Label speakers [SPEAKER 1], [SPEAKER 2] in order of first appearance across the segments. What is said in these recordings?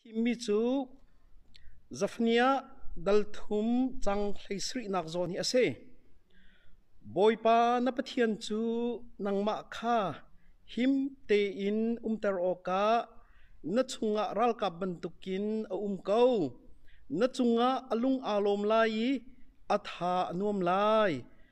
[SPEAKER 1] Thimmi cu Zafniah dal thum cang hleisarihnak zawn hi a si. Bawipa na Pathian cu nangmah kha him tein umter awkah na chungah ralkap bantukin a um ko. Na cungah a lung aa lawm lai i a tha a nuam lai.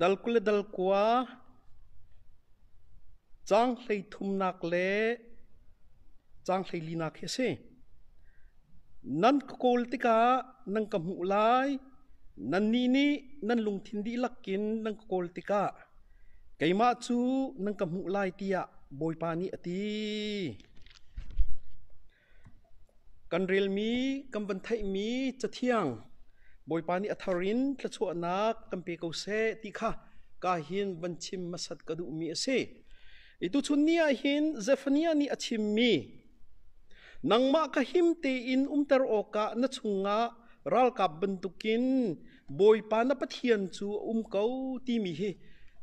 [SPEAKER 1] Dal kul le dal kua, caang hleithumnak le caang hleilinak hi a si. Nan ka kawl tikah nan ka hmuh lai. Nannih nih nan lungthin dihlak in nan ka kawl tikah keimah cu nan ka hmuh lai tiah Bawipa nih a ti. Kan relmi, kan van theihmi Cathiang, Bawipa nih a thar in thluachuahnak kan pe ko seh ti kha ka hin van chim hmasat ka duhmi a si. I tuchun ni ah hin Zephaniah nih a chimmi, nangmah ka him tein umter awkah na chungah ralkap bantukin Bawipa na Pathian cu a um ko timi hi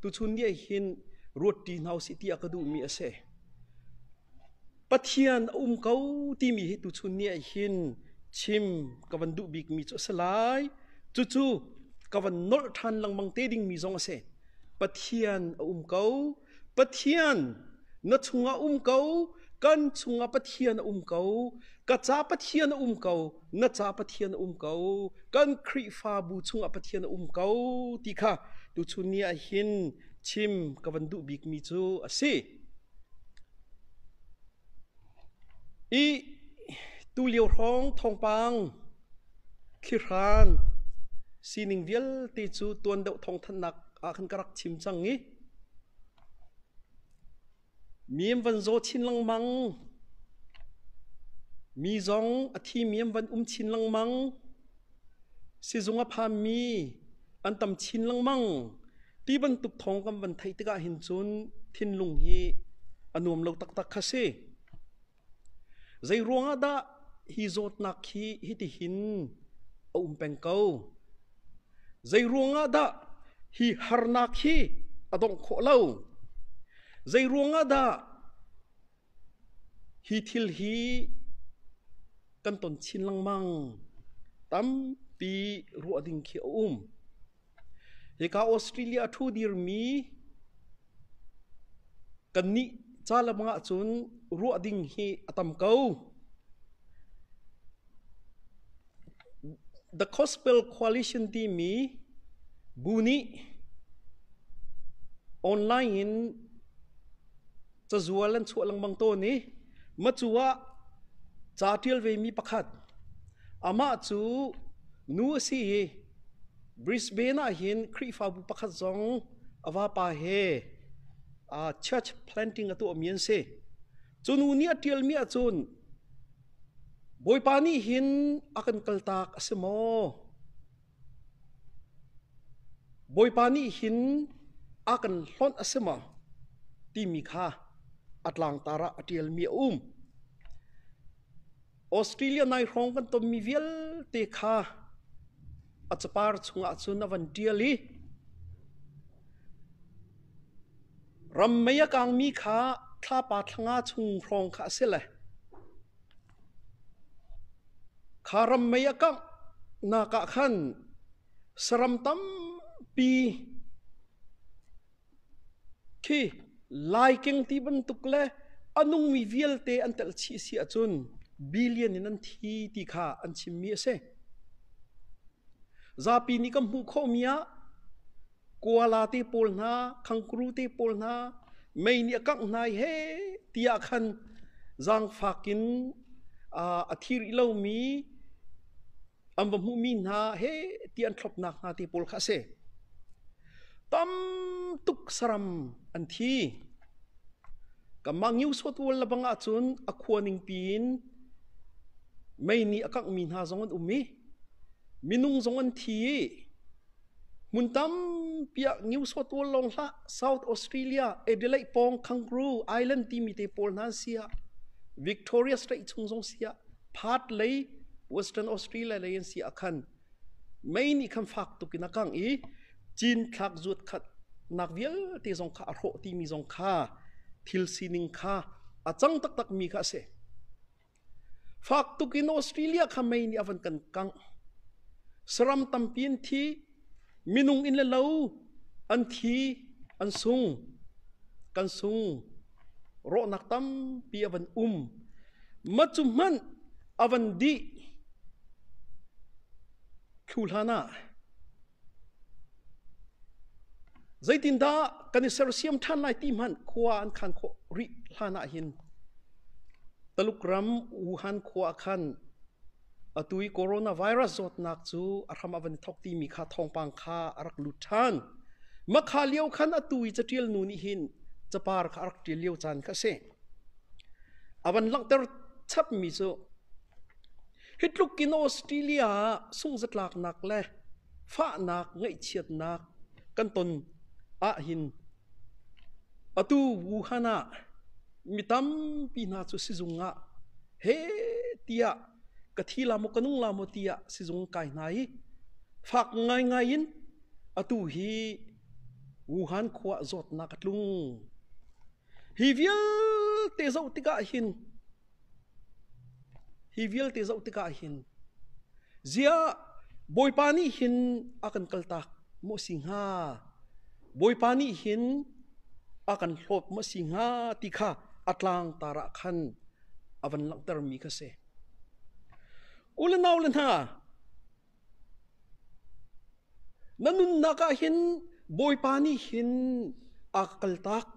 [SPEAKER 1] tuchun ni ah hin ruat ṭi hna u sih ti a ka duhmi a si. Pathian a um ko timi hi tuchun ni ah hin chim ka van duh bikmi cu a si lai. Cucu ka van nolh ṭhan lengmang te dingmi zong a si. Pathian a um ko. Pathian na chungah um ko. Kan chungah Pathian a um ko. Ka ca Pathian a um ko. Na ca Pathian a um ko. Kan Khrihfabu chungah Pathian a um ko ti kha tuchun ni ah hin chim ka van duh bikmi cu a si. Ih tulio hrawng thawngpang, thlihran, sining vialte cu tuan deuh thawngthanhnak ah khan ka rak chim cang i miam van zaw chin lengmang, mi zong a thi miam van um chin lengmang. Sizung a phanmi an tam chin lengmang. Ti bantuk thawng kan van theih tikah hin cun thinlung hi a nuam lo taktak kha si. Zei ruangah dah hi zawtnak hi hitihin a um peng ko? Zei ruangah dah hi harnak hi a dongh khawh lo? Zei ruangah dah Hi thil hi kan ton chin lengmang. Tampi ruah ding khi a um. Hika Australia a ṭhu dirmi kannih ca le bang ahcun ruah ding hi a tam ko. The Gospel Coalition timi bu nih online in cazual an chuah lengmang tawn i macu ah ca ṭial vemi pakhat amah cu nu a si i Brisbane ah hin Khrihfabu pakhat zong a vapa he uh, church planting a tuahmi an si cu nu nih a ṭialmi ahcun Bawipa nih hin a kan kaltak a si maw Bawipa nih hin a kan hlonh a si maw? timi kha a tlangtar ah a ṭialmi a um. Australia nai hrawng kan tonmi vialte kha a capar chungah cun a van ṭial i ram mei a kangmi kha thlapa thlanga chung hrawng kha a si le Kha ram mei a kanghnak ah khan saram tampi khi laikeng ti bantuk le a nungmi vialte an tel chih a si ahcun billion in an thi ti kha an chimmi a si. Zapi nih kan hmuh khawhmi ah Kuala te pawl hna, khangkuru te pawl hna, mei nih a kangh hna i he tiah khan zaangfak in a thi rih lomi an va hmuhmi hna he ti an thlopnak hna te pawl kha a si. Tam tuk saram an thi. Kanmah New South Wales lebang ahcun a khua ningpi in mei nih a kanghmi hna zong an um i minung zong an thi i Hmun tampi ah Newsawt tual lawng hlah, South Australia, Adelaide pawng Kangaroo Island timi te pawl hna si ah Victoria Strait chung zong si ah Perth lei Western Australia lei an si ah khan mei nih khan fak tuk in a kangh i cinthlak zuatkhatnak vialte zong kha a hrawh timi zong kha thil sining kha a cang taktakmi kha a si. Fak tuk in Australia kha mei nih a van kan kangh. Saram tampi an thi. Minung in le lo an thi, an sung. Kan sung. Rawhnak tampi a van um. Macu hmanh a van dih. Thu hlan ah Zeitindah kan i sersiam ṭhan lai ti hmanh khua an khaan khawh rih hlan ahhin Talukram Wuhan khua ah khan atu i coronavirus zawtnak cu a hram a van i thawk timi kha thawngpang kha a rak lut ṭhan. Mahka lio khan atu i caṭial nu nih hin capar kha a rak ṭial lio caan kha a si. A van langhter chapmi cu Hitluk in Australia ah sungzatlaknak le fahnak ngaihchiatnak kan ton ahhin atu Wuhan ah mi tampi hna cu sizung ah he tiah ka thi la maw ka nung la maw tiah sizung kai hna i fak ngaingai in atu hi Wuhan khua zawtnak a tlung. Hi vialte zoh tikah hin Hi vialte zoh tikah hin ziah Bawipa nih hin a kan kaltak maw si hnga? Bawipa nih hin a kan hlawp maw si hnga ti kha a tlangtar ah khan a van langhtermi kha si. U le nau le hna, Na nunnak ah hin Bawipa nih hin aa kaltak.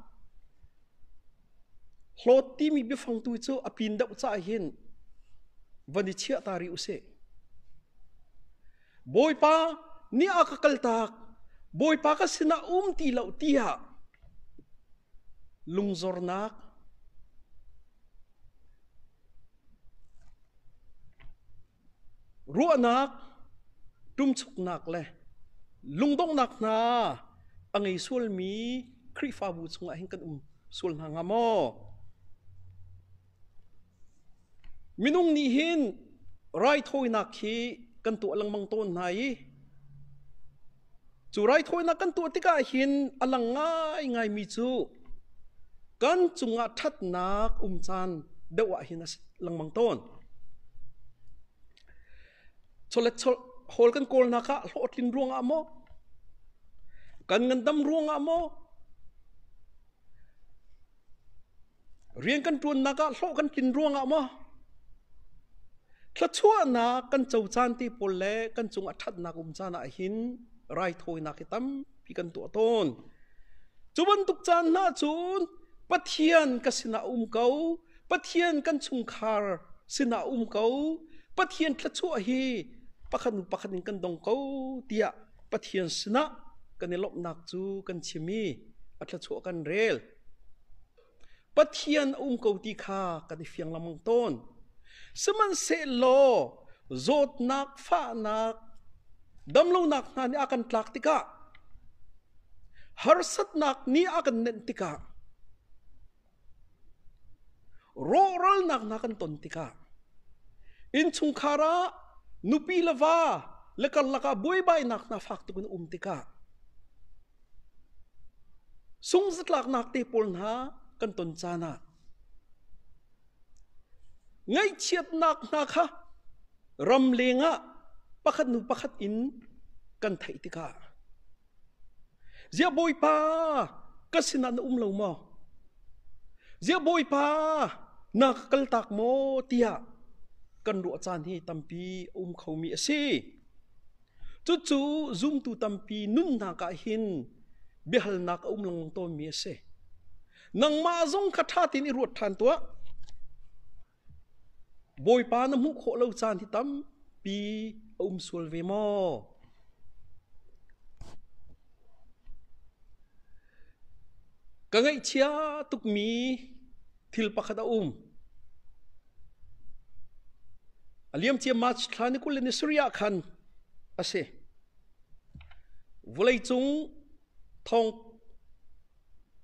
[SPEAKER 1] Hlawt timi biafangtu cu a pin deuh caah hin van i chiah ta rih u sih. Bawipa nih a ka kaltak, Bawipa ka sinah um ti lo tiah lungzornak, Ruahnak, ṭumchuknak le lungdonghnak hna a ngei sualmi Khrihfabu chungah hin kan um sual hna hnga maw? Minung nih hin raithawinak hi kan tuah lengmang tawn hna i Cu raithawinak kan tuah tikah hin a lang ngaingaimi cu kan cungah ṭhatnak um caan deuh ah hin a si lengmang tawn. Chawlet hawl kan kawl hna kha hlawhtlin ruangah maw, kan ngandam ruangah maw, Rian kan ṭuannak ah hlawh kan tlin ruangah maw thluachuahnak kan co caan te pawl le kan cung a ṭhatnak um caan ah hin raithawinak hi tampi kan tuah tawn. Cu bantuk caan hna cun Pathian ka sinah um ko, Pathian kan chungkhar sinah um ko, Pathian thluachuah hi pakhat nu pakhat in kan dong ko tiah Pathian sinah kan i lawmhnak cu kan chim i a thluachuah kan rel. Pathian a um ko ti kha kan i fiang lengmang tawn. Sihmanhsehlaw zawtnak, fahnak, damlonak hna nih a kan tlak tikah, harsatnak nih a kan nenh tikah, rawhralnak hna kan ton tikah, innchungkhar ah nupi le va le karlak ah buaibainak hna fak tukin um tikah, Sungzatlaknak te pawl hna kan ton caan ah ngaihchiatnak hna kha ram leng ah pakhat hnu pakhat in kan theih tikah ziah Bawipa ka sinah na um lo maw? Ziah Bawipa na ka kaltak maw tiah kan ruah caan hi tampi a um khomi a si. Cucu zumtu tampi nunnak ah hin biahalnak a um lengmang tawnmi a si. Nangmah zong kha ṭha tein i ruat ṭhan tuah. Bawipa na hmuh khawh lo caan hi tampi a um sual ve maw? Ka ngaihchia tukmi Thil pakhat a um. A liam cia March thla ni kul le ni sarih ah khan a si. Vulei cung thong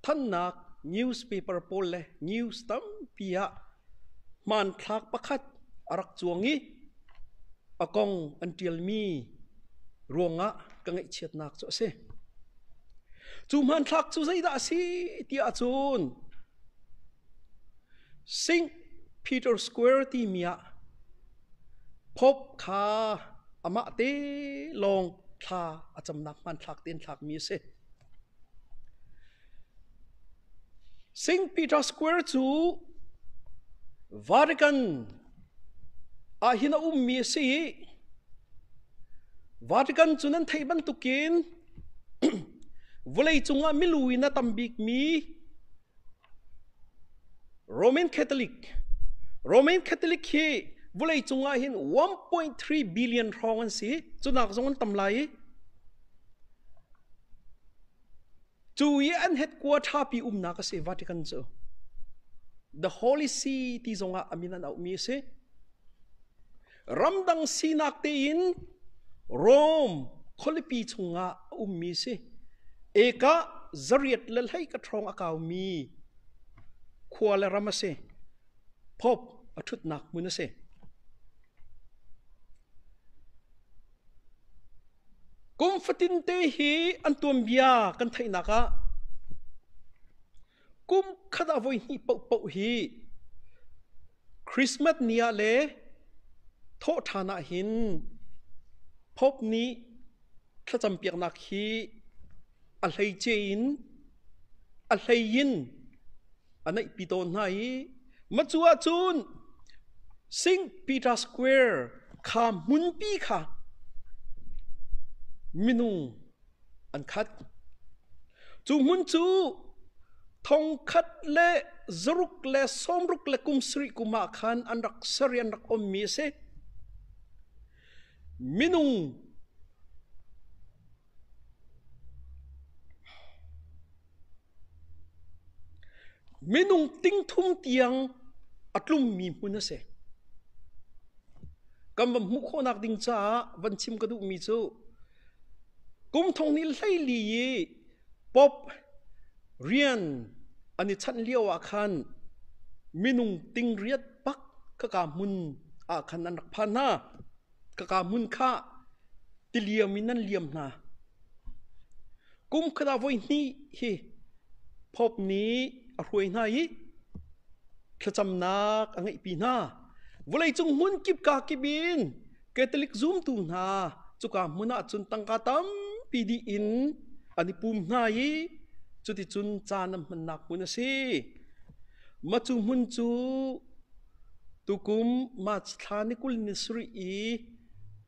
[SPEAKER 1] thannak newspaper pawl le news tampi ah hmanthlak pakhat a rak cuang i a kong an ṭialmi ruangah ka ngaihchiatnak cu a si. Cu hmanthlak cu zeidah a si tiah cun Saint Peter Square timi ah Pope kha amah te lawng thla a camnak hmanthlak te in thlakmi a si. Saint Peter Square cu Vatican Ahhin a ummi a si i Vatican cu nan theih bantukin vawleicung ah milu in a tam bikmi Roman Catholic Roman Catholic hi vawleicung ah hin 1.3 billion hrawng an si. Cunak zong an tam lai i Cu i an headquarter ṭhapi umnak a si Vatican cu. The Holy See ti zongah a min an auhmi a si. Ramdang sinak tein Rome khualipi chungah a ummi a si. Eka zariat le hleika ṭhawng a kaumi khua le ram a si. Pope a ṭhutnak hmun a si. Kum fatin te hi an tuanbia kan theihnak ah kum khat ah voi hnih paohpaoh hi Christmas ni ah le thawhṭhan ah hin Pope nih thlacam piaknak hi a hleice in a hlei in a naihpi tawn hna i macu ahcun St. Peter Square kha hmunpi kha minung an khat. Cu hmun cu thongkhat le zaruk le sawmruk le kum sarih kum ah khan an rak sari an rak ommi a si. Minung Minung tingthum tiang a tlummi hmun a si. Kan van hmuh khawhnak ding caah van chim ka duhmi cu kum thong ni hleili i pop rian an i chanh lio ah khan minung tingriat bak khaka hmun ah khan an rak phan hna. ka kaa hmun kha tiliam in an liam hna. Kum khat ah voihnih hi Pope nih a hruai hna i thlacamnak a ngeihpi hna. Vawleicung hmun kip ka kip in Catholic zumtu hna cuka hmun ah cun tangka tampi dih in an i pum hna i cuticun caan an hmannak hmun a si. Matu hmun cu Tukum March thla ni kul ni sarih i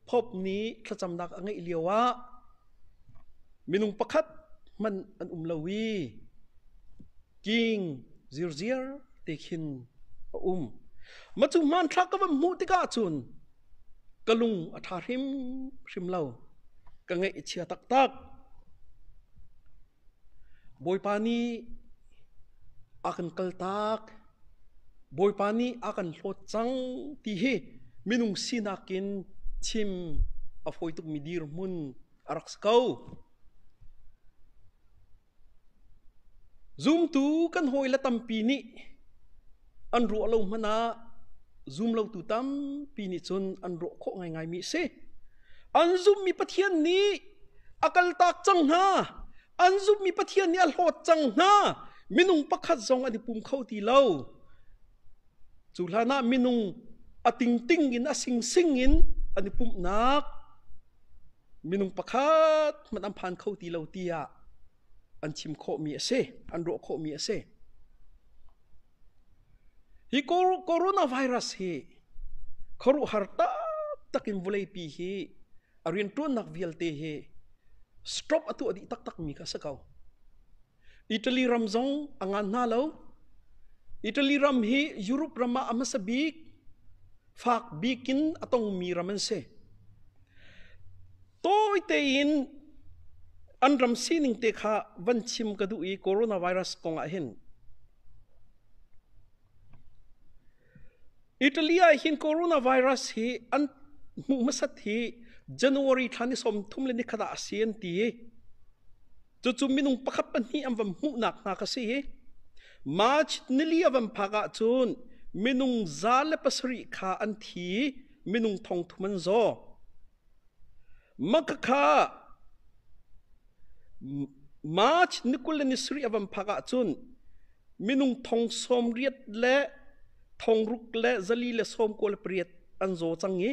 [SPEAKER 1] Pope nih thlacamnak a ngeih lioah minung pakhat hmanh an um lo i king zirziar te khin a um. Mah cu hmanthlak ka van hmuh tikah cun ka lung a ṭha hrimhrim lo. Ka ngaih a chia taktak. Bawipa nih a kan kaltak, Bawipa nih a kan hlawt cang ti hi minung sinak in chim a fawi tukmi dirhmun a rak si ko. Zumtu kan hawile tampi nih an ruah lo hmanh ah zum lotu tampi nih cun an ruah khawh ngaingaimi a si. An zummi Pathian nih a kaltak cang hna. An zummi Pathian nih a hlawt cang hna. Minung pakhat zong an i pum kho ti lo. Cu hlan ah minung a tingting in a singsing in an i pumhnak minung pakhat hmanh an phan kho ti lo tiah an thim khawhmi a si, an ruah khawhmi a si. Hi coronavirus hi khuaruhhar taktak in vuleipi hi a rianṭuannak vialte hi stop a tuah dih taktakmi kha a si ko. Italy ram zong a ngan hna lo. Italy ram hi Europe ram ah a hmasa bik, fak bik in a tongmi ram an si. tawi tein an ram sining te kha van chim ka duh i coronavirus kong ah hin Italy ah hin coronavirus hi an hmuh hmasat hi January thla ni som thum le ni khat ah a si an ti i cucu minung pakhat pahnih an van hmuhnak hna ka si hi March nili a van phak ah cun minung za le pasarih kha an thi minung thong thum an zaw Maka kha March ni kul le ni sarih a van phak ahcun minung thong sawm riat le thong ruk le zali le sawm kua le pariat an zaw cang i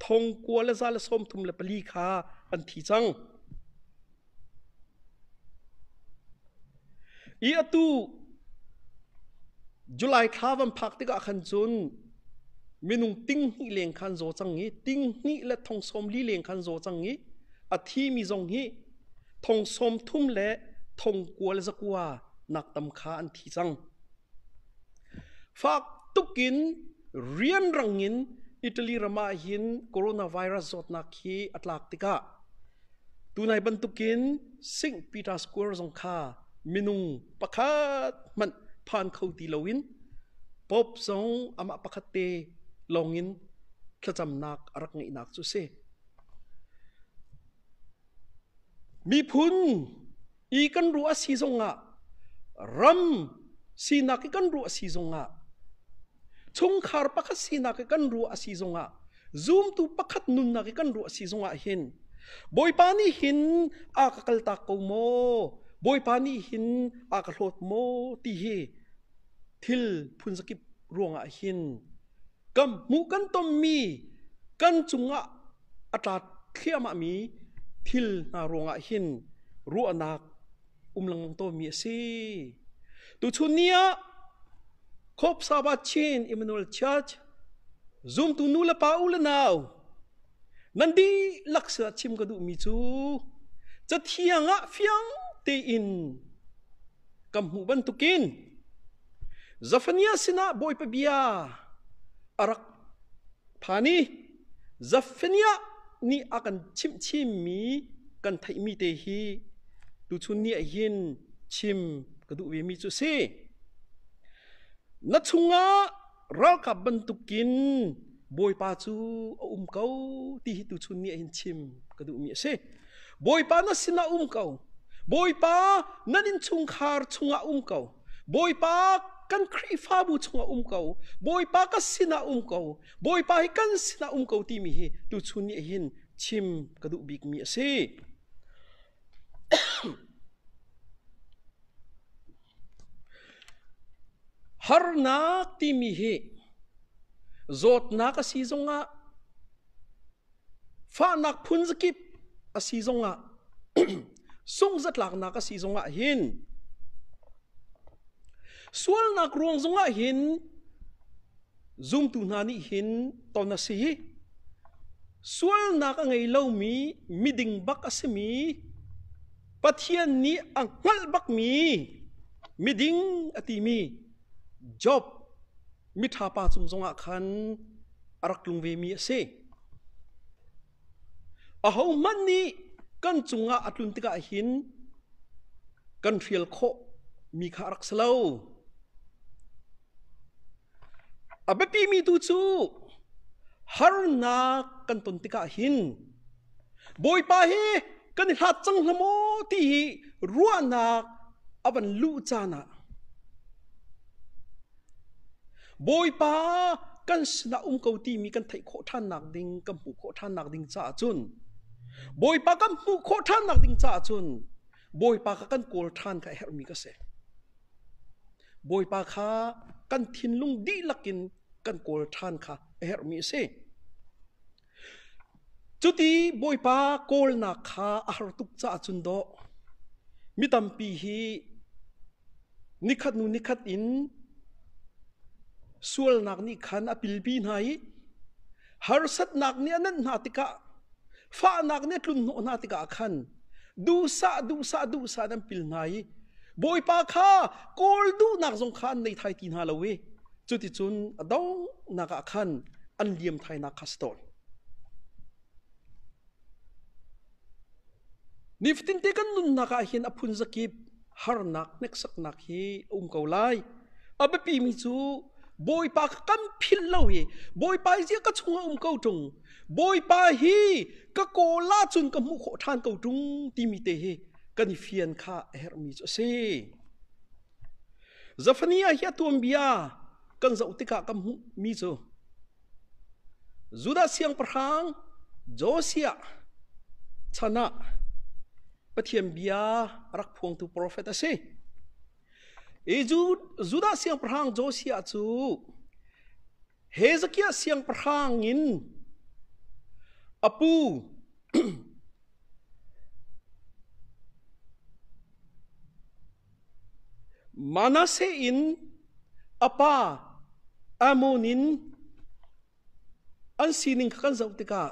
[SPEAKER 1] thong kua le za le sawm thum le pali kha an thi cang. I atu July thla van phak tikah khan cun minung tinghnih leng khan zaw cang i tinghnih le thongsawm li leng khan zaw cang i a thimi zong hi thongsawm thum le thongkua le zakua nak tam kha an thi cang fak tukin rianrang in Italy ramah hin coronavirus zawtnak hi a tlak tikah Tunai bantukin St. Peter Square zong kha minung pakhat hmanh phan kho ti loin Pope zong amah pakhat te lawngin thlacamnak a rak ngeihnak cu a si. Miphun i kan ruah a si zongah ram sinak i kan ruah a si zongah chungkhar pakhat sinak i kan ruah a si zongah zumtu pakhat nunnak i kan ruah a si zongah hin bawipa nih hin a ka kaltak ko maw bawipa nih hin a ka hlawt maw ti hi thil phunzakip ruangah hin kan hmuh kan tonmi kan cungah a tla thliahmahmi thil hna ruangah hin ruahnak um lengmang tawnmi a si. Tuchun ni ah Hope Saba Chin Emmanuel Church zumtu nu le pa u le nau nan di laksa chim ka duhmi cu cathiang ah fiang tein kan hmuh bantukin Zafaniah sinah Bawipa bia a rak phan i Zafaniah nih a kan chimhchimmi kan theihmi te hi tuchun ni ah hin chim ka duh vemi cu si. Na chungah ralkap bantukin Bawipa cu a um ko ti hi tuchun ni ah hin chim ka duhmi a si. Bawipa na sinah um ko. Bawipa nan innchungkhar chungah um ko. Bawipa kan Khrihfabu chungah um ko. Bawipa ka sinah um ko. Bawipa hi kan sinah um ko timi hi tuchun nih hin chim ka duh bikmi a si. Harnak timi hi zawtnak a si zongah Fahnak phun zakip a si zongah sunghzatlaknak a si zongah hin sualnak ruang zungah hin zumtu hna nih hin ton a si i sualnak a ngei lomi miding bak a simi Pathian nih a hngalh bakmi miding a timi Job miṭha pa cung zongah khan a rak tlung vemi a si. Ahohmanh nih kan cungah a tlun tikah hin kan hrial khawh mi kha a rak si lo. A biapimi tu cu harnak kan ton tikah hin Bawipa hi kan i hlat cang hlah maw ti hi ruahnak a van luh caan ah Bawipa kan sinah um ko timi kan theih khawh ṭhan nakding kan hmuh khawh ṭhan nakding caah cun Bawipa kan hmuh khawh ṭhan nakding caah cun Bawipa kha kan kawl ṭhan kha a herhmi ka si. Bawipa kha kan thinlung dihlak in kan kawl ṭhan kha a herhmi a si. Cuti Bawipa kawlnak kha a har tuk caah cun dawh. Mi tampi hi nikhat hnu nikhat in sualnak nih khan a pilpi hna i harsatnak nih a nanh hna tikah, fahnak nih a tlunhnawh hna tikah khan duhsah duhsah duhsah in an pil hna i Bawipa kha kawl duhnak zong kha an nei thai ti hna lo i Cuticun a donghnak ah khan an liamthainak kha a si tawn. Nifatinte kan nunnak ah hin a phun zakip harnak hneksaknak hi a um ko lai. A biapi mi cu Bawipa ka kan phil lo i Bawipa hi ka chungah um ko ṭung. Bawipa hi ka kawla cun ka hmuh khawh ṭhan ko ṭung timi te hi kan i fian kha a herhmi cu a si. Zafani ah hi a tuanbia kan zoh tikah kan hmuhmi cu Judah siangpahrang Josiah chan ah Pathian bia a rak phuangtu profet a si. Hi Judah siangpahrang Josiah cu Hezekiah siangpahrang in a pu Manasse in a pa Amon in an sining kha kan zoh tikah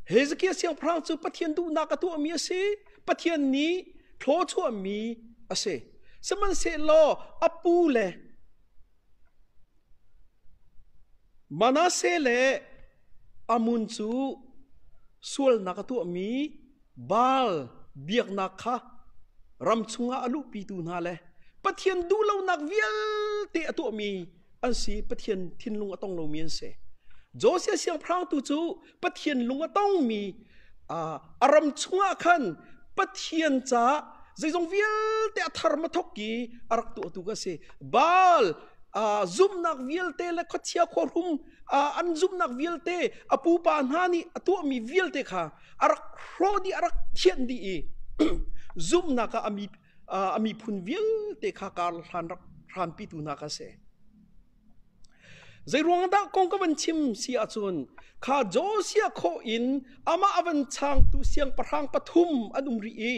[SPEAKER 1] Hezekiah siangpahrang cu Pathian duhnak a tuahmi a si, Pathian nih thlaw chuahmi a si. Sihmanhsehlaw a pu le Manasse le Amon cu sualnak a tuahmi Baal biaknak kha ram chungah a luhpitu hna le Pathian duhlonak vialte a tuahmi an si Pathian thinlung a tong lomi an si Josiah siangpahrangtu cu Pathian lung a tongmi a ram chungah khan Pathian caah zeizong vialte a thar ma thok i a rak tuahtu ka si Baal zumnak vialte le khuachia khuahrum an zumnak vialte a pupa hna nih a tuahmi vialte kha a rak hrawh dih a rak thianh dih i zumhnak ah ami a miphun vialte kha kar hlan rak hranpitu hna kha si zei ruang dah kong ka van chim si ahcun kha Josia khaw in amah a van changtu siangpahrang pathum an um rih i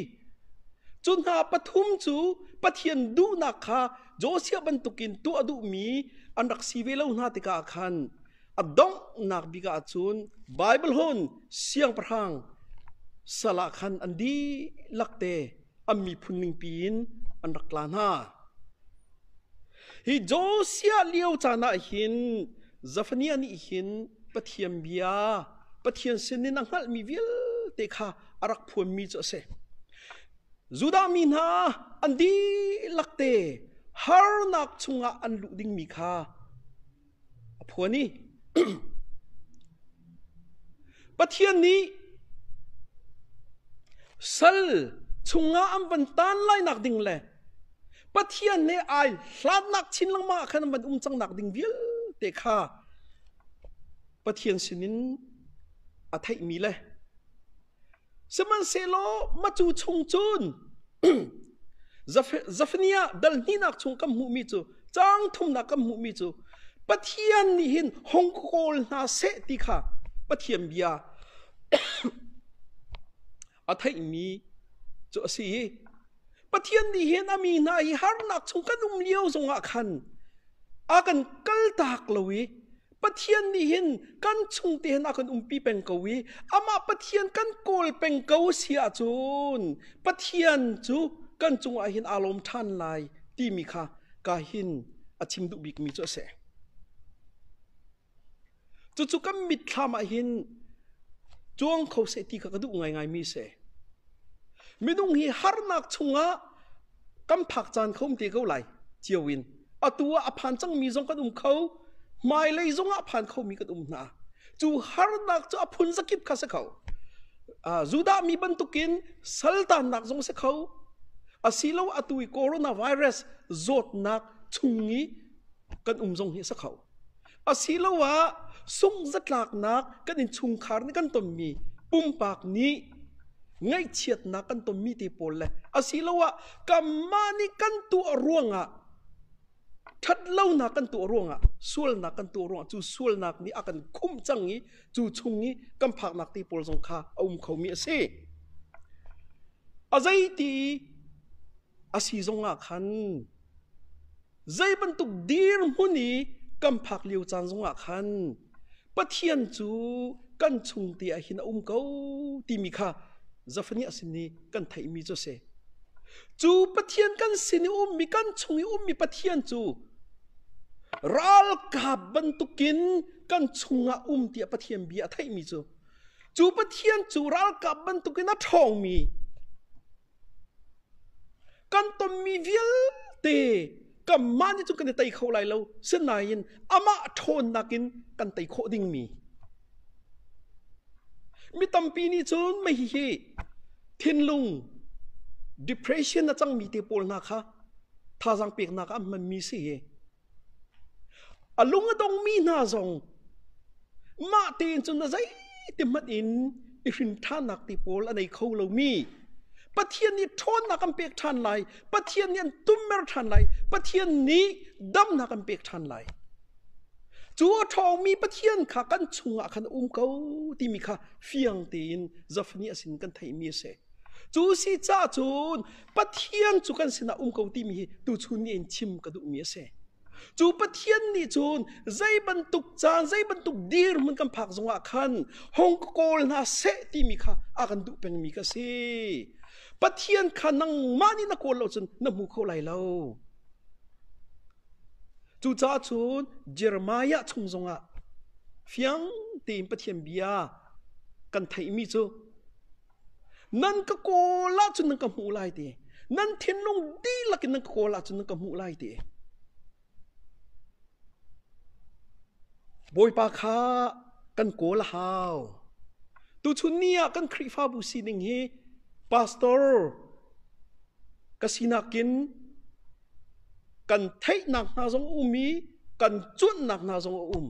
[SPEAKER 1] cu hna pathum cu pathian duhnak kha Josia bantukin tuah duhmi an rak si ve lo hna tikah khan a donghnak bik ah cun Baibal hun siangpahrang sal ah khan an dihlak te an miphun ningpi in an rak tla hna. Hi Josiah lio caan ah hin Zafaniah nih hin Pathian bia Pathian sinin a hngalhmi vialte kha a rak phuanmi cu a si. Judah mi hna an dihlak te harnak chungah an luh dingmi kha Pathian nih sal chungah an van tan lainak ding le Pathian he ai hlatnak chin lengmang ah khan an van um cangnak ding vialte kha Pathian sinin a theihmi le Sihmanhsehlaw matu chung cun Zafaniah dal hnihnak chung kan hmuhmi cu caang thumnak kan hmuhmi cu Pathian nih hin hong kawl hna seh ti kha Pathian bia a theihmi cu a si i Pathian nih hin a mi hna hi harnak chung kan um lio zongah khan a kan kaltak lo i Pathian nih hin kan chung te hin a kan umpi peng ko i amah Pathian kan kawl peng ko si ahcun Pathian cu kan cungah hin aa lawm ṭhan lai timi kha ka hin a chim duh bikmi cu a si. Cucu kan mitthlam ah hin cuang kho seh ti kha ka duh ngaingaimi a si. Minung hi harnak chungah kan phak caan kha um te ko lai cio in atu ah a phan cangmi zong kan um kho hmailei zong ah phan khomi kan um hna cu harnak cu a phun zakip kha si kho Judah mi bantukin saltannak zong si kho asilo atu i coronavirus zawtnak chung i kan um zong hi a si kho Asiloah sunghzatlaknak kan innchungkhar nih kan tonmi pumpak nih ngaihchiatnak kan tonmi te pawl le asiloah kanmah nih kan tuah ruangah ṭhatlonak kan tuah ruangah sualnak kan tuah ruangah cu sualnak nih a kan khumh cang i cu chung i kan phaknak te pawl zong kha a um khomi a si. A zeiti a si zong ah khan Zei bantuk dirhmun i kan phak lio caan zongah khan Pathian cu kan chung te ah hin a um ko timi kha Zafaniah sin i kan theihmi cu a si. Cu Pathian kan sin i ummi, kan chung i ummi Pathian cu ralkap bantukin kan chungah um tiah Pathian bia a theihmi cu cu Pathian cu ralkap bantukin a ṭhawngmi kan tonmi vialte kanmah nih cun kan i tei kho lai lo sinain amah ṭhawnnak in kan tei khawh dingmi mi tampi nih cun mei hihi thinlung depression a cangmi te pawl hna kha thazaang peknak ah an hmanmi si hi A lung a dongmi hna zong mah tein cun a zeitihmanh in i hrinthannak ti pawl a nei kho lomi Pathian nih ṭhawnnak an pek ṭhan lai, Pathian nih an tummer ṭhan lai, Pathian nih damnak an pek ṭhan lai. Cu a ṭhawngmi Pathian kha kan chungah khan a um ko timi kha fiang tein zafnih a sin kan theihmi a si. Cu si cahcun Pathian cu kan sinah um ko timi hi tuchun nih in chim ka duhmi a si. Cu Pathian nih cun zei bantuk caan, zei bantuk dirhmun kan phak zongah khan hong ka kawl hna seh timi kha a kan duh pengmi ka si. Pathian kha nangmah nih na kawl lo cun na hmu kho lai lo. Cucaah cun Jeremiah chung zongah fiang tein Pathian bia kan theihmi cu Nan ka kawl ahcun nan ka hmuh lai ti. Nan thinlung dihlak in nan ka kawl ahcun nan ka hmuh lai ti. Bawipa kha kan kawl a hau. Tuchun ni ah kan Khrihfabu sining hi pastor ka sinak in kan theihnak hna zong a um i kan cuanhnak hna zong a um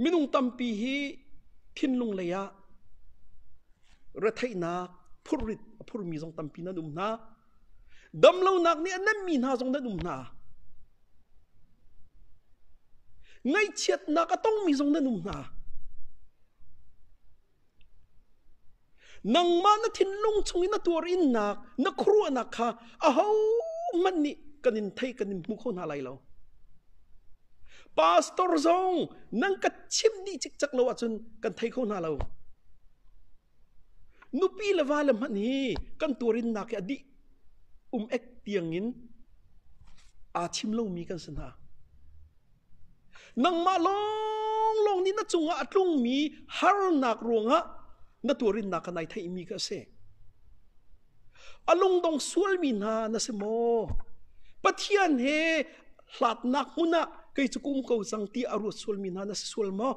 [SPEAKER 1] minung tampi hi thinlung lei ah retheihnak phurrit a phurmi zong tampi nan um hna damlonak nih a nemmi hna zong nan um hna ngaihchiatnak a tongmi zong nan um hna Nangmah na thinlung chungin a tuar innak, na khuaruahnak kha ahohmanh nih kan in theih kan in hmu kho hna lai lo. Pastor zong nan ka chimh dih cikcak lo ahcun kan thei kho hna lo. Nupi le va le hmanh hi kan tuarinnak hi a dih um ek tiangin aa chim lomi kan si hna. Nangmah lawnglawng nih na cungah a tlungmi harnak ruangah na tuarinnak kha nai theihmi kha a si. A lungdong sualmi hna na si maw? Pathian he hlatnak hmun ah kei cu ka um ko cang ti a ruat sualmi hna na si sual maw?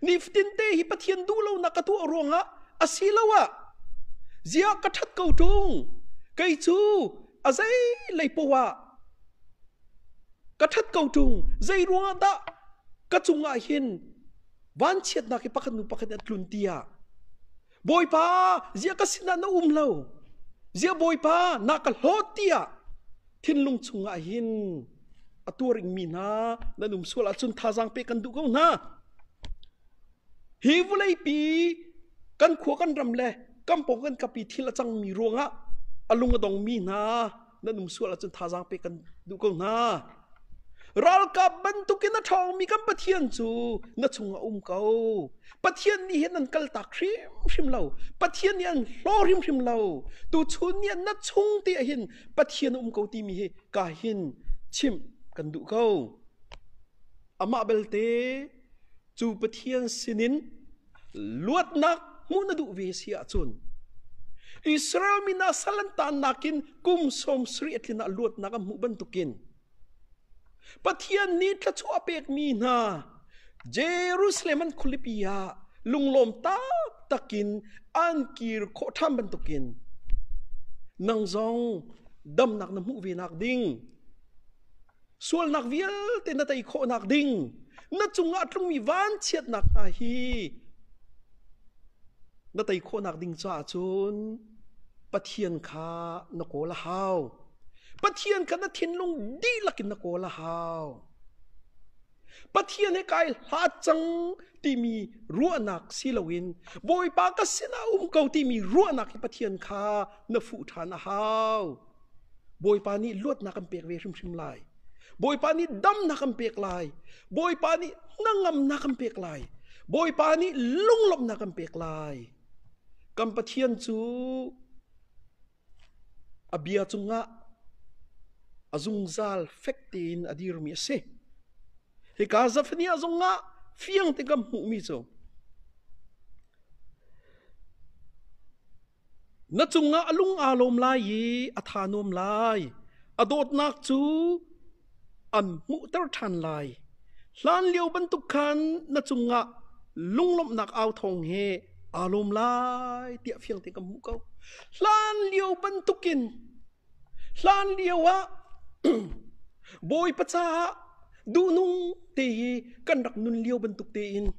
[SPEAKER 1] Nifatinte hi Pathian duhlonak ka tuah ruangah asiloah ziah ka ṭhat ko ṭung? Kei cu a zeilei poah Ka ṭhat ko ṭung, zeiruangahdah ka cungah hin vanchiatnak hi pakhat hnu pakhat in a tlun tiah Bawipa ziah ka sinah na um lo? Ziah Bawipa na ka hlawt tiah thinlung chungah hin a tuaringmi hna nan um sual ahcun thazaang pe kan duh ko hna. Hi vuleipi kan khua kan ram le kan pawng kan kapi thil a cangmi ruangah a lung a dongmi hna nan um sual ahcun thazaang pe kan duh ko hna ralkap bantukin a ṭhawngmi kan pathian cu na chung a um ko pathian nih hin an kaltak hrimhrim lo pathian nih an hlaw hrimhrim lo tuchun nih na chung ti hin pathian um ko timi hi ka hin chimh kan duh ko amah belte cu Pathian sinin luatnak hmuh na duh ve si ahcun Israel mi hna sal an tannak in kum sawm sarih a tlin ah luatnak an hmuh bantukin Pathian nih thluachuah pekmi hna Jerusalem an khualipi ah lunglawm taktakin an kir khawh ṭhan bantukin nang zong damnak na hmuh ve nak ding sualnak vialte na tei khawhnak ding na cungah tlungmi vanchiatnak hna hi na tei khawhnak ding caah cun Pathian kha na kawl a hau Pathian kha na thinlung dihlak in na kawl a hau Pathian he kai hlat cang timi ruahnak si loin Bawipa ka sinah um ko timi ruahnak hi Pathian kha na fuh ṭhan a hau Bawipa nih luatnak kan pek ve hrimhrim lai. Bawipa nih damnak kan pek lai. Bawipa nih hnangamnak kan pek lai. Bawipa nih lunglawmhnak kan pek lai. Kan Pathian cu a bia cungah a zungzal fek tein a dirmi a si. Hika Zafaniah zongah fiang te kan hmuhmi cu Na cungah a lung aa lawm lai i a tha nuam lai. A dawtnak cu an hmuhter ṭhan lai. Hlanlio bantuk khan na cungah lunglawmhnak au thawng he aa lawm lai tiah fiang tein kan hmuh ko. Hlanlio bantukin Hlanlio ah Bawipa caah duhnung tehi kan rak nun lio bantuk tein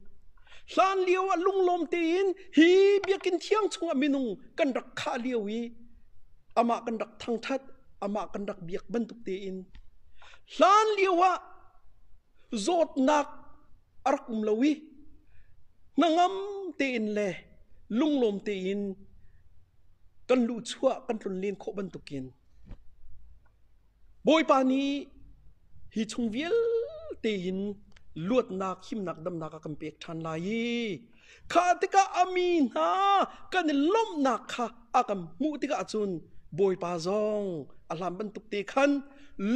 [SPEAKER 1] hlanlio ah lunglawm tein hi biakinn thiang chungah minung kan rak khah lio i amah kan rak thangṭhat amah kan rak biak bantuk tein hlanlio ah zawtnak a rak um lo i hnangam tein le lunglawm tein kan luhchuah kan tlun len khawh bantukin Bawipa nih hi chung vialte in luatnak, himnak, damnak a kan pek ṭhan lai i kha tikah a mi hna kan i lawmhnak kha a kan hmuh tikah cun Bawipa zong a hlan bantuk te khan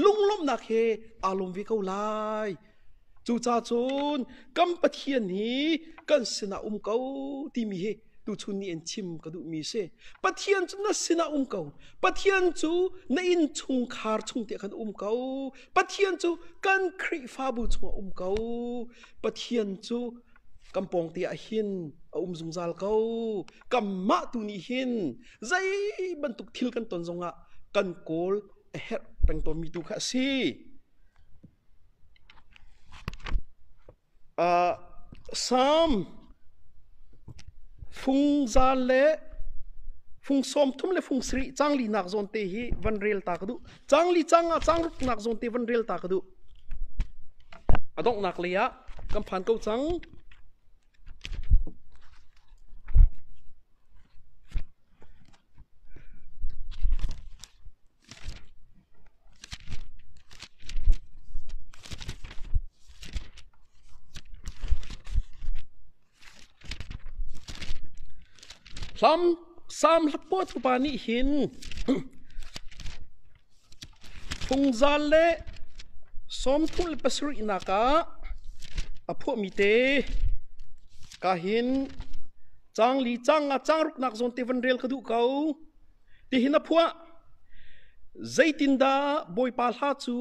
[SPEAKER 1] lunglawmhnak he aa lawm ve ko lai. Cucaah cun kan Pathian hi kan sinah um ko timi hi tuchun nih in chim ka duhmi si. Pathian cu na sinah um ko. Pathian cu na innchungkhar chung te kan um ko. Pathian cu kan Khrihfabu chungah um ko. Pathian cu kan pawng te ah hin a um zungzal ko. Kan mah tu nih hin zei bantuk thil kan ton zongah kan kawl a herh peng tawnmi tu kha a si. Salm fung zan le fung sawmthum le fung sarih canglinak zawnte hi van rel ta ka duh. Cangli cang ah cangruknak zawnte van rel ta ka duh. A donghnak lei ah kan phan ko cang. Hlam Sam Hlapawt fapa nih hin phungzal le sawmthum le pasarihnak ah a phuahmi te ka hin cang li cang nga cang ruknak zawn te van rel ka duh ko. Tihin a phuah. Zeitindah Bawipa hla cu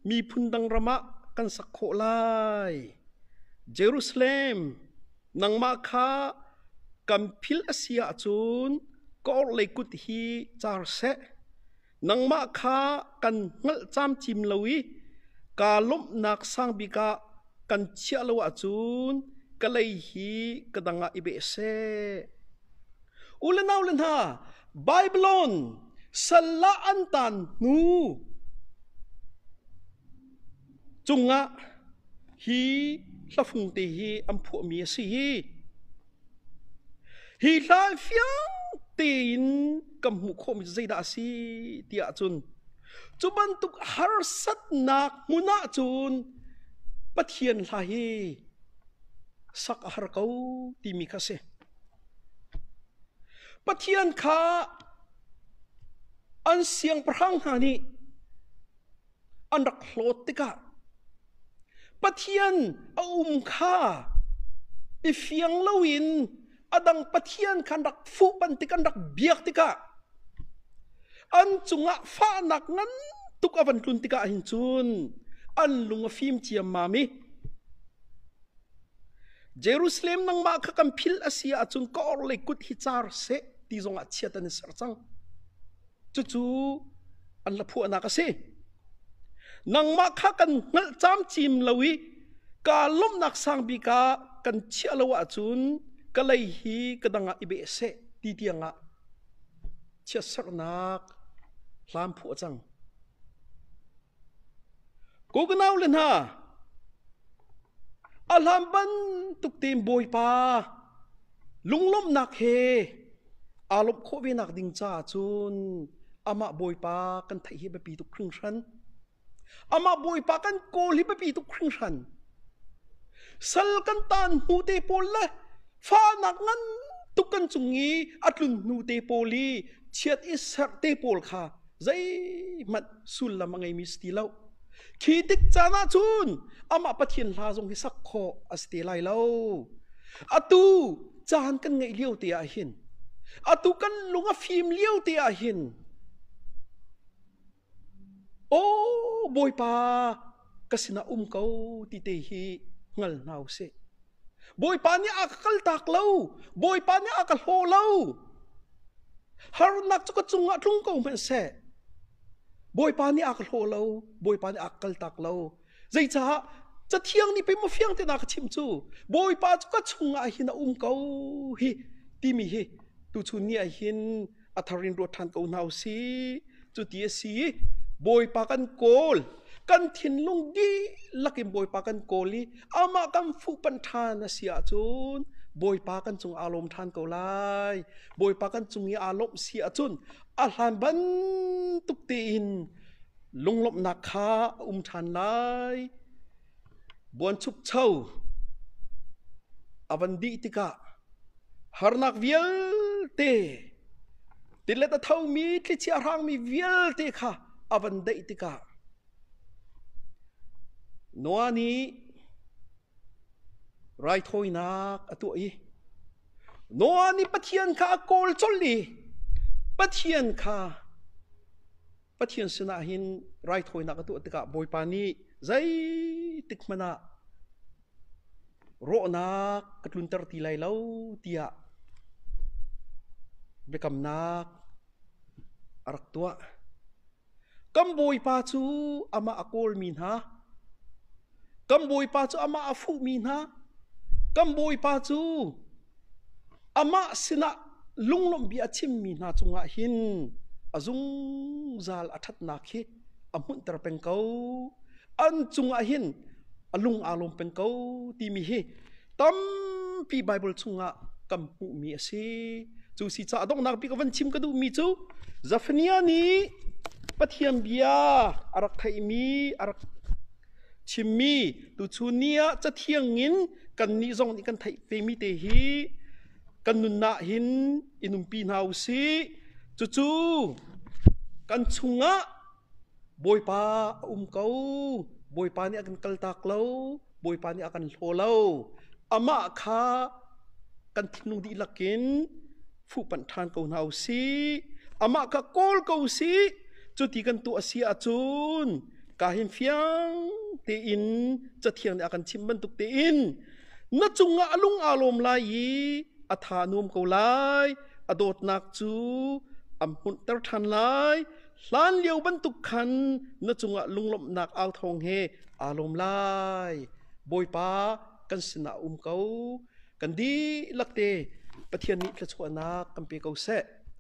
[SPEAKER 1] miphun dang ram ah kan sak khawh lai? Jerusalem, nangmah kha kan philh a si ahcun ka orhlei kut hi car seh. Nangmah kha kan hngalh camcim lo i kaa lawmhnak sang bik ah kan chiah lo ahcun ka lei hi ka dang ah i beh seh. U le nau le hna, Babylon salla an tan hnu cungah hi hlafung te hi an phuahmi a si hi Hi hlai fiang tein kan hmuh khawhmi cu zeidah a si ti ahcun cu bantuk harsatnak hmun ahcun Pathian hla hi sak a har ko timi kha si. Pathian kha an siangpahrang hna nih an rak hlawt tikah Pathian a um kha i fiang loin a dang pathian kha an rak fuhpan tik an rak biak tikah an cungah fahnak ngan tuk a van tlun tikah hin cun an lung a fim ciammam i Jerusalem nangmah kha kan phil a si ahcun ka orhlei kut hi car seh ti zongah chiat an i ser cang. Cucu an la phuahnak a si. Nangmah kha kan hngalh camcim lo i ka lawmhnak sang bik ah kan chiah lo ahcun ka lei hi ka dang ah i beh seh ti tiangah chiatsaknak hlam phuah cang. Kokanau le hna a hlam bantuk tein Bawipa lunglawmhnak he aa lawmh khawh ve nak ding caah cun amah Bawipa kan theih hi a biapi tuk hringhran. Amah Bawipa kan kawl hi biapi tuk hringhran. Sal kan taan hnute pawl le fahnak ngan tuk kan cung i a tlun hnute pawl i chiat i serh te pawl kha zeihmanh sullam a ngeimi si ti lo. Khi tik caan ahcun amah Pathian hla zong hi sak khawh a si te lai lo. Atu caan kan ngeih lio te ahhin, atu kan lung a fim lio te ahhin Aw Bawipa, ka sinah um ko ti te hi hngal hna u sih. Bawipa nih a ka kaltak lo. Bawipa nih a ka hlaw lo. Harnak cu ka cungah tlung ko hmanh seh. Bawipa nih a ka hlaw lo. Bawipa nih a ka kaltak lo. Zeicah cathiang nih pei mafiang te na ka chim cu. Bawipa cu ka chungah hin a um ko hi timi hi tuchun ni ah hin a thar in ruat ṭhan ko hna u sih. Cuti a si i Bawipa kan kawl. Kan thinlung dihlak in Bawipa kan kawl i amah kan fuhpanh ṭhan a si ahcun Bawipa kan cung aa lawm ṭhan ko lai. Bawipa kan cung i aa lawmh si ahcun a hlan bantuk tein lunglawmhnak kha a um ṭhan lai. Buanchukcho a van dih tikah harnak vialte, tilet a thomi, thlichia a hrangmi vialte kha a van daih tikah Noah nih raithawinak a tuah i Noah nih Pathian kha a kawl colh i Pathian kha Pathian sinah hin raithawinak a tuah tikah Bawipa nih zeitik hmanh ah rawhnak ka tlunter ti lai lo tiah biakamnak a rak tuah. Kan Bawipa cu amah a kawlmi hna Kan Bawipa cu amah a fuhmi hna, kan Bawipa cu amah sinah lunglawmhbia a chimmi hna cungah hin a zungzal a ṭhatnak hi a hmunhter peng ko. An cungah hin a lung aa lawm peng ko timi hi tampi Baibal chungah kan hmuhmi a si. Cu si caah donghnak bik a van chim ka duhmi cu Zefaniah nih Pathian bia a rak theihmi a rak Chimmi tuchun ni ah cathiang in kannih zong nih kan theih vemi te hi kan nunnak hin i nunpi hna u sih. Cucu kan chungah Bawipa a um ko. Bawipa nih a kan kaltak lo. Bawipa nih a kan hlaw lo. Amah kha kan thinlung dihlak in fuhpanh ṭhan ko hna u sih amah kha kawl ko u sih cuti kan tuah a si ahcun ka hin fiang tein cathiang nih a kan chim bantuk tein na cungah a lung aa lawm lai i a tha nuam ko lai a dawtnak cu am hmunhter ṭhan lai hlan lio bantuk khan na cungah lunglawmhnak au thawng he aa lawm lai bawipa kan sinah um ko Kan dihlak te Pathian nih thluachuahnak kan pe ko seh.